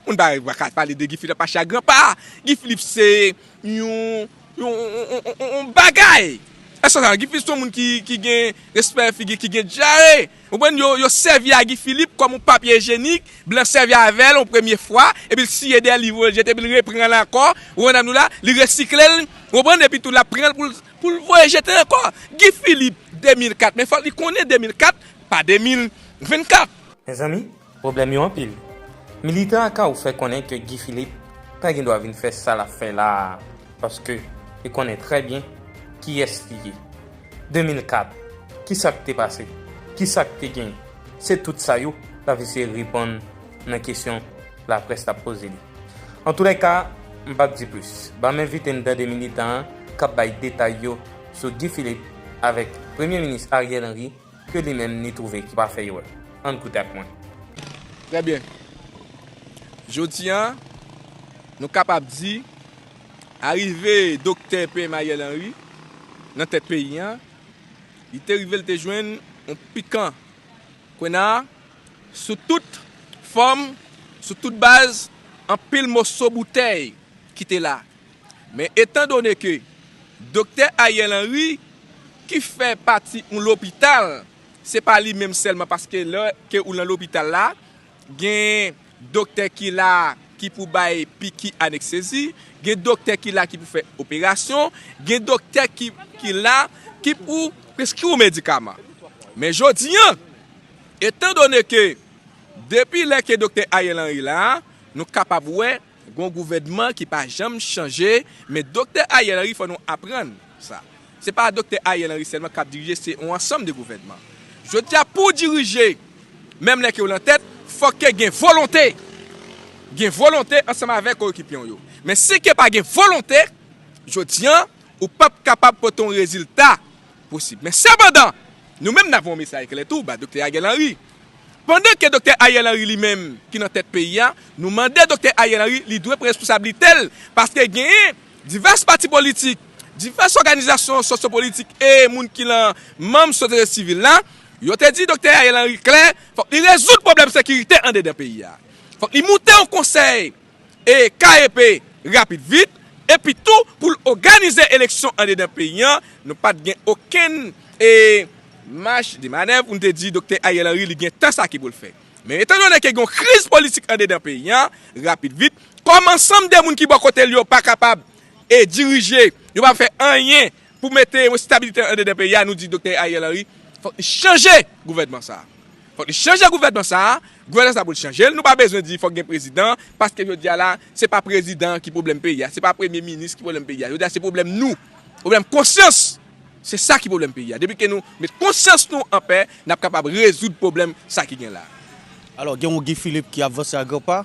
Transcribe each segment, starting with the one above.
Moun pa pa ka pale de Guy Philippe ap mache ak gran pa. Guy Philippe se yon bagay. Èske ou konprann? Guy Philippe se yon moun ki gen respè figi, ki gen dyare. Ou konprann? Yo sèvi a Guy Philippe kòm yon papye ijenik. Blan sèvi avè l yon premye fwa. Epi l siye dèyè l, li voye l jete. Epi l repran l ankò. Ou konprann, nou la? Li resikle l. Ou konprann? Epi tou l ap pran l pou l voye jete l ankò. Guy Philippe 2004. Men fòk li konnen 2004, pa 2024. Mezanmi, Pwoblèm yo anpil. Militan Akaw fè konnen ke Guy Philippe pa gen dwa vin fè sa l ap fè la a paske li konnen trè byen kiyès li ye. 2004, ki sa k te pase? Ki sa k te genyen? Se tout sa yo l ap eseye reponn nan kesyon laprès t ap poze li. Antoulèka, m p ap di plis. Ban m envite n tande militan an k ap bay detay yo sou Guy Philippe avèk Premye Minis Ariel Henry, ke li menm li twouve ki pa fè erè. Ann koute ak mwen. Trè byen. Jodi a, nou kapab di, arive Doktè PM Ariel Henry nan tèt peyi a, li te rive li te jwenn yon pikan kwena sou tout fòm, sou tout baz, anpil moso boutèy ki te la. Men etan done ke Doktè Ariel Henry ki fè pati yon lopital, se pa li menm sèlman paske lè ke ou lan lopital la, gen doktè ki la ki pou bay piki aneksezi, gen doktè ki la ki pou fè operasyon, gen doktè ki la ki pou preskri w medikaman. Men jodi an, etan done ke depi lè ke Doktè Ariel Henry la, nou kapab wè, Gon gouvènman ki pa janm chanje, men Doktè Ariel Henry fò nou aprann sa. Se pa Doktè Ariel Henry sèlman kap dirije se yon ansanm de gouvènman. Jodi a pouw dirije, menm lè kew lan tèt, fòk ke gen volonte. Gen volonte ansanm avèk koyekipyew yo. Men si ke pa gen volonte, jodi an, ou pap kapab pote yon rezilta posib. Men sepandan, nou menm nap voye yon mesaj klè tou ba Doktè Ariel Henry, Pandan ke Doktè Ariel Henry li menm ki nan tèt peyi a, nou mande Doktè Ariel Henry li dwe pran responsablite l paske genyen divès pati politik, divès òganizasyon sosyopolitik e moun ki lan manm sosyete sivil la, yo te di Doktè Ariel Henry klè fòk li rezoud pwoblèm sekirite andedan peyi a. Fòk li moute yon konsèy e KEP rapid vit, epi tou pou l oganize eleksyon andedan peyi an, nou pat gen okenn e. Mach de manèv pou nou te di Doktè Ariel Henry li gen tan sa ki pou l fè. Men etan done ke gen yon kriz politik andedan peyi an, rapid vit, kòm ansanm de moun ki bò kote l yo pa kapab e dirije, yo pa fè anyen Pou mete estabilite an dedan peyi a, nou di Doktè Ariel Henry fòk li chanje gouvènman sa a. Fòk li chanje gouvènman sa a, gouvènman sa a pou l chanje l, nou pa bezwen di fòk gen prezidan, paske jodi a la, se pa prezidan an ki pwoblèm peyi a, se pa premye minis ki pwoblèm peyi a, jodi a se pwoblèm nou, pwoblèm konsyans, se sa ki pwoblèm peyi a. Depi ke nou met konsyans nou an pè, n ap kapab rezoud pwoblèm sa ki gen la a. Alò, gen yon Guy Philippe ki ap vanse a gran pa,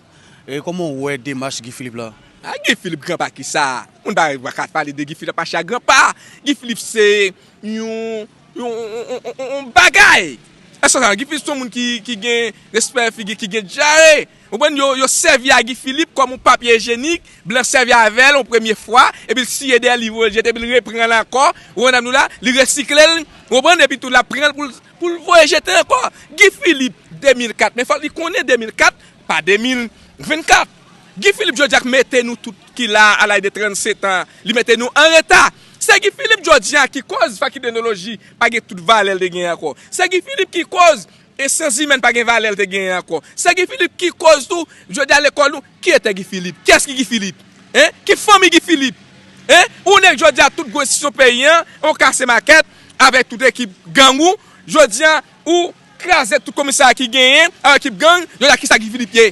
e kòman ou wè demach Guy Philippe la? Ah Guy Philippe granpa kisa moun pa ka pale de Guy Philippe a cha granpa Guy Philippe se yon yon bagay eske sa Guy Philippe son moun ki gen respè figi ki gen dyare ou konprann yo sèvi a Guy Philippe kòm yon papye ijenik blan sèvi avèl yon premye fwa epi l siye dèyèl li voye l jete epi l repranl ankò ou konprann avni w la li resiklel ou konprann epi tou lap pranl poul voye jete ankò Guy Philippe 2004 men fòk li konnen 2004 pa 2024. Guy Philippe jodi a k mete nou tout ki la a laj de 37 an li mete nou an reta. Se Guy Philippe jodi a ki koz fakidenoloji pa gen tout valè l te genyen ankò. Se Guy Philippe ki koz e syans imèn pa gen valè l te genyen ankò. Se Guy Philippe ki koz tou jodi a lekòl nou ki etè Guy Philippe? Kiyès ki Guy Philippe? Hein? Ki fanmi Guy Philippe? Hein? Ou nèk jodi a tout gwo enstitisyon peyi an ou kase makèt avèk tout ekip gang ou jodi a Ou kraze tout komisarya ki genyen ak ekip gang, jodi a kisa Guy Philippe ye?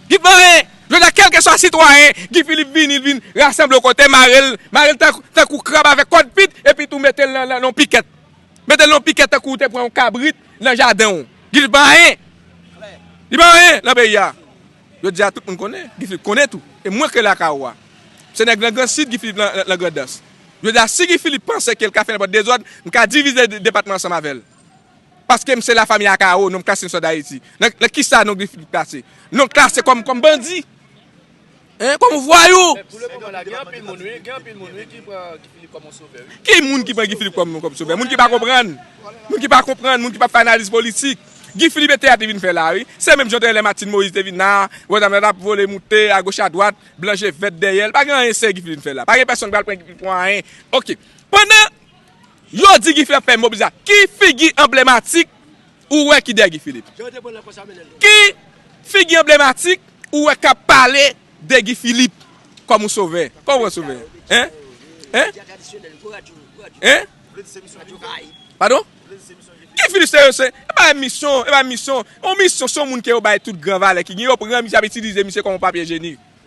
Guy Philippe anyen! Jodi a kelke swa sitwayen, Guy Philippe vini li vin rasanble yon kote mare l, mare l tankou krab avèk kòd pit epi tou mete l nan yon pikèt. Mete l nan yon pikèt tankou ou te pran yon kabrit nan jaden w. Guy Philippe pa anyen! Li pa anyen nan peyi a. Jodi a tout moun konnen, Guy Philippe konnen tou e mwen kreye l ak Awa. Se nèg nan Gran Sid Guy Philippe nan Grandans. Jodi a si Guy Philippe panse ke l ka fè nenpòt dezòd, m ka divize depatman ansanm avè l. Paskem se la famille a Caro non klase sò d'Haiti nan kisa non Guy Philippe klase non klase kòm kòm bandi hein kòm vwayou. Men pou le moman la gen anpil moun wi gen anpil moun wi ki pran Guy Philippe kòm yon sovè wi. Ki moun ki pran Guy Philippe kòm kòm sovè moun ki pa konprann moun ki pa konprann moun ki pap fè analiz politik Guy Philippe e teyat li vin fè la wi se menm jan tè lè Martine Moïse te vin la wè dam nan tap vole moute a goch a dwat blan je vèt dèyèl pa gen anyen serye Guy Philippe vin fè la pa gen pèsòn ki pral pran Guy Philippe pou anyen ok pandan Yo di gifilip ap fè mobilizasyon ki figi anblematik ou wè ki dèyè gifilip? Ki figi anblematik ou wè kap pale de gifilip kòm yon sovè? Kòm yon vrè sovè? Hein? Hein? Hein? Padon? Gifilip se se e pa yon misyon, e pa yon misyon, yon misyon se yon moun ke yo bay tout gran valè ki gen, yo pran misye ap itilize misye kòm yon papye jenik.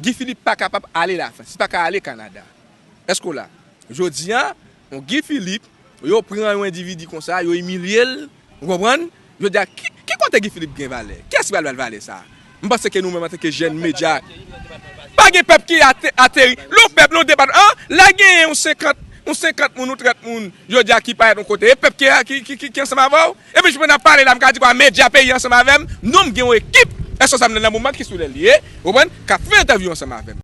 Guy Philippe pa kapab ale Lafrans, li pa ka ale Kanada. Èske w la? Jodi a, yon Guy Philippe, yo pran yon endividi konsa, yo imilye l, ou konprann? Jodi a, ki kote Guy Philippe gen valè? Kiyès ki pral ba l valè sa a? M panse ke nou menm antanke jèn medya, pa gen pèp ki ateri, lè yon pèp, lè yon depatman, an, la genyen yon 50, yon 50 moun, yon 30 moun jodi a ki parèt yon kote, e pèp ki ansanm avè w? Epi j pandan ap pale la m ka di kwa medya peyi ansanm avèm non m gen yon ekip responsab nan nan moman ki sou lèl ye ou konprann kap fè entèvyou ansanm avèm.